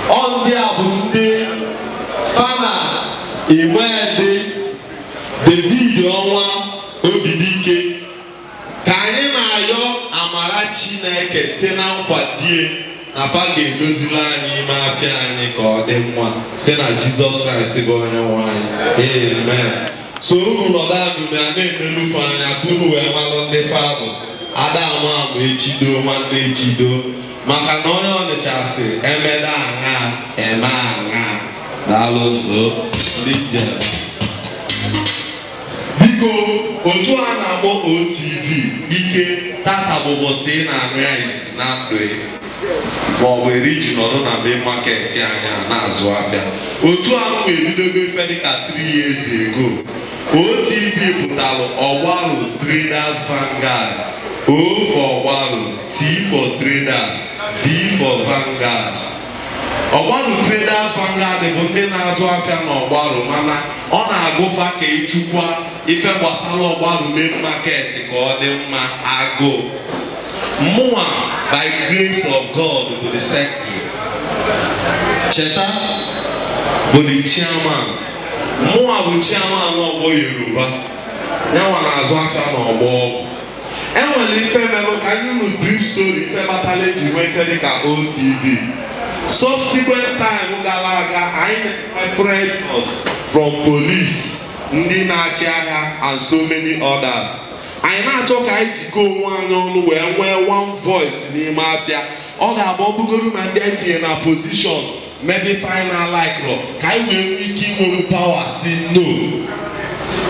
ọ ndị a bụ ndị fa na Iwedị David Ọnwa Obidike ka anyị na-ayọ amara Chineke si na nkwado ya na fa ga-edozili anyị ime afịa anyị ka ọ dị mma si na Jizọs Kraịst bụ onye nwe anyị amen so unu nọdụ abụbe a na-enelu fa anya ka unu wee malụ ndị fa bụ ada ama ama echido nwanne echido maka na onye Ọnịcha sị emeda aṅa eme aṅa daalụ nụ ndị njem biko otu a na-akpọ otv ike tata bụ ụbọsị ị na-anụ ya isi na ndụ gị ma ọ bụ eri i ji nọdụ na main market anyị a na-azụ afịa otu anwa ebidogo ife dịka 3 years ago otv pụtara ọgbarụ traders vanguard o for ọgbarụ T for traders, V for Vanguard. Ọgbaru traders Vanguard bụ ndị na-azụ afịa na ọgbaru mana ọ na-agụ fa ka ịchịkwa ife gbasara ọgbaru main market ka ọ dị mma agụụ. Mụnwa by grace of God bụ the secretary. Cheta bụ the chairman. Mụnwa bụ chairman ọgbọ Yoruba. Yanwa na-azụ afịa na ọgbọ ọgwụ. enwere ife merụ ka m nye unu brief story ife kpatara eji nwee ife dịka OTV subsequent time gara aga anyị na-enwe pressures from police ndị na-achị ahịa and so many others anyị na-achọ ka anyị jikọ onwe anyị ọnụ wee nwee one voice n'ime afịa ọ ga-abụ ọ bụgoro na ndị e tinye na position mebe ife anyị na-alikerọ ka anyị wee nwee ike inwewu power sị no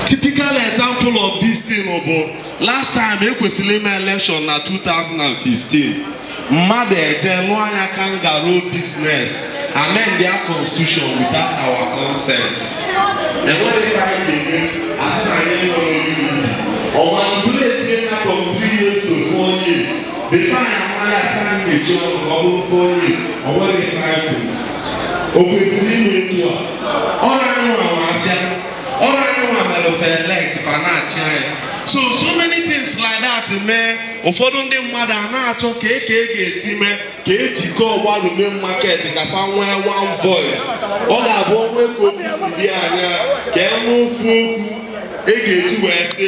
typical example of this thing bụ last time ekwesịrị ime election na 2015 mmadụ eje lụọ anyị kangaroo business amend their constitution without our consent enweghị ka anyị ga-eme asị na anyị nwere unity ọ manipulate ya from 3 years to 4 years Bịkwa ya nwa ya asa nkechi ọnụ ka ọ bụrụ 4 years o nweghị ife anyị kwuru. O kwesịrị ime etu a. Ọ bụrọ anyị nwa nwe afịa. Ọ bụrọ anyị nwa mere fa elect fa na-achị anyị. So so many things like that mee ụfọdụ ndị mmadụ a na-achọ ka e ka e ga-esi mee ka ejikọ ọgbalụ main market ka fa nwee one voice. Ọ ga-abụ o nwe ka obi si dị anyị ka e nwee ofu okwu e ga-eji wee sị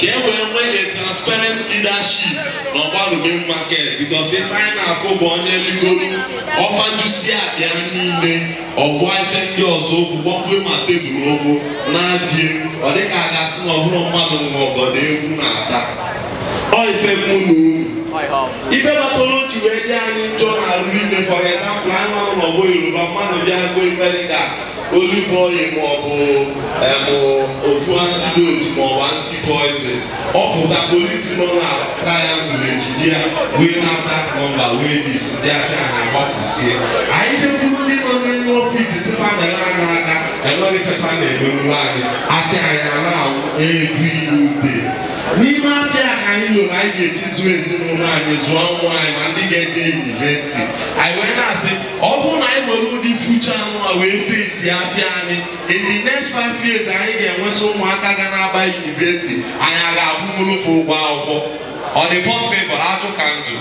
ka e wee nwee a transparent leadership na Ọgbaru main market because ife anyị na-afụ bụ onye ligoro ọ fajusi afịa niile ọgwụ ife ndị ọzọ okwu gbọkwe ma tebụl okwu na-abịa ọ dịka a ga-asị na ọbụrụ mmadụ nwe ọgọ na egwu na-ata ọ ife mụ na unu ife kpatara o ji wee dị anyị njọ n'arụ ime for example anyị nọ n'ọgbọ yoruba mmadụ bịa gọọ ife dịka olive oil maọbụ emụ ofu antidote maọbụ antipoison ọ pụta polisi nọ na triangle ejide ya wee nata nọmba wee dis ndị afịa a gbafusie anyị jekwuru ndị nọ n'elu ọfis si fa na ele anya aka enwerọ ife fa na-emelụ anyị afịa anyị a na-anwụ every day n'ime afịa a ka anyị lụrụ anyị ga-eji zụọ ezinụlọ anyị zụọ nwa anyị ma ndị ga-eje yunivesiti anyị wee na-asị ọ bụrụ na anyị nwere ụdị future nwa wee face afịa anyị in the next five years anyị ga-enwesị ụmụaka ga na-aba yunivesiti anyị a ga-akwụnwulu fa ụgwọ akwụkwọ ọ dị pọsịbụl ajụ ka m jụ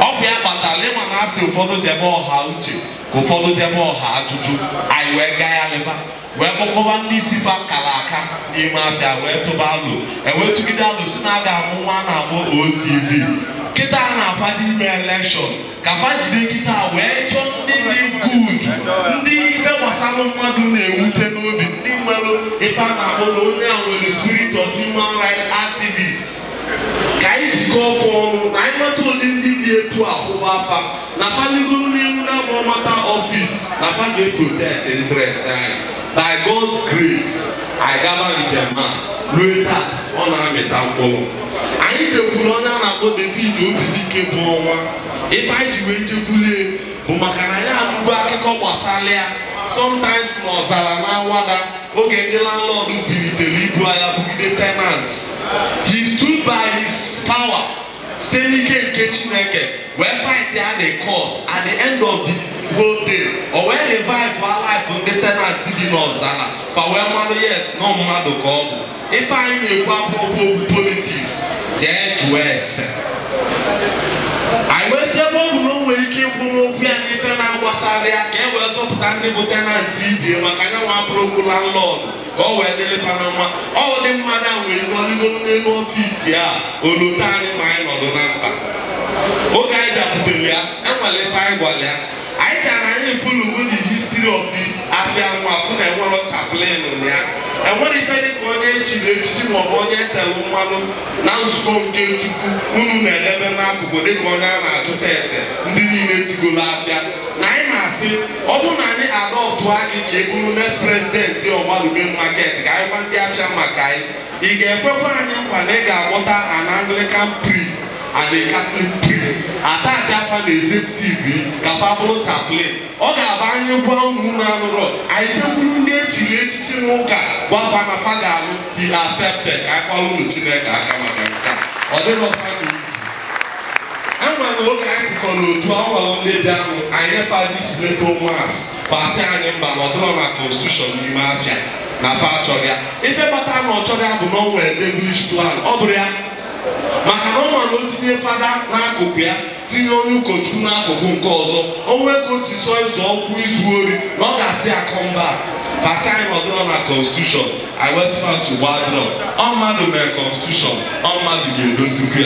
ọ bụ ya kpatara ịma na asị ụfọdụ jebe ọha uche ka ụfọdụ jebe ọha ajụjụ anyị wee gaghalịba wee kpọkọba ndị isi fa kara aka n'ime afịa wee tụba alo e wee tụgide alo si na a ga-amụ nwa a na-akpọ otv kịta a na-aba n'ime elekshọn ka fa jiri kịta wee chọọ ndị dị good ndị ife gbasara mmadụ na-ewute n'obi ndị nwere ife a na-akpọ na onye a nwere spirit of human rights activist ka anyị jikọọ ọkụ ọnụ na anyị nweta ụdị ndị dị etu a kwụba fa na fa ligo n'enu nwa bụ OMATA ọfis na fa ga-eprotect interest anyị by God grace anyị gaba njem a lue taa ọ na-amịta mkpụrụ anyị jekwuru onye a na-akpọ David Obidike bụ ọnwa ife anyị ji wee jekwulie bụ maka na anyị anụgo akụkọ gbasara ya sometimes na Ọzara na Awada oge ndị landlord bilitere ibu agha bugide tenants he stood by his power site n'ike nke chineke wee fightịa the cause at the end of the whole day o wee revive our life ndị tenant bi n'Ọzara fa wee marụ yes na mmadụ ka ọ bụ ife anyị na-ekwu abụrọkwa okwu politics jee jụọ ese anyị wee si ebe ọ bụ na o nwere ike ịkwụ n'okwu ya n'ife na-agbasara ya ka e wee zọpụta ndị bụ tenant ibie maka ya nwa abụrọkwa landlord ka ọ wee dịrị fa na mma ụdị mmadụ ahụ nwere ike o ligoro n'elu ọfịs ya o lote anyị ma anyị nọdụ na mkpa oge anyị bịakwutere ya enwere ife anyị gwara ya anyị si na anyị fụlụgo the history of the afia nwa afụ na enwere chaplain na enwere ife dị ka onye echiri echichi maọbụ onye etere mmanụ na nzukọ nke chukwu unu na-edebe n'akụkụ dịka onye a na-ajụta ese ndị niile chịgoro afịa na anyị na-asị ọ bụrụ na anyị adoptụa gị ka ị bụrụ next president ọgbalụ main market ka anyị gwa ndị afịa maka gị ị ga-ekwekwa anyị nkwa na ị ga-akpọta an anglican priest and a catholic priest attachịa fa na executive ka fa bụrụ chaplain ọ ga-abụ anyị gwa unu unu anụrọ anyị jekwuru ndị echiri echichi n'ụka gwa fa na fa ga-anụ he accepted ka anyị kụalụnụ chineke aka maka nke a ọ dịrọ fa n'isi ama na oge anyị jikọrọ n'otu awa ndị dị ahụ anyị nye fa this letter ụmụas fa sị anyị mba na ọ dịrọ na constitution n'ime afịa na fa achọrọ ya ife kpata na ọ chọrọ ya bụ na o nwere devilish plan ọ bụrụ ya maka na ọ ma na o tinye fada n'akụkụ ya tinye onye ụkọchukwu n'akụkụ nke ọzọ o nwee ka otu sọ ịzụ ọkwụ izu ori na ọ ga-asị akọ mba fa sị anyị na ọ dịrọ na constitution anyị wee sị fa nsogbu adịrọ ọ mmadụ mere constitution ọ mmadụ ga-edozikwu ya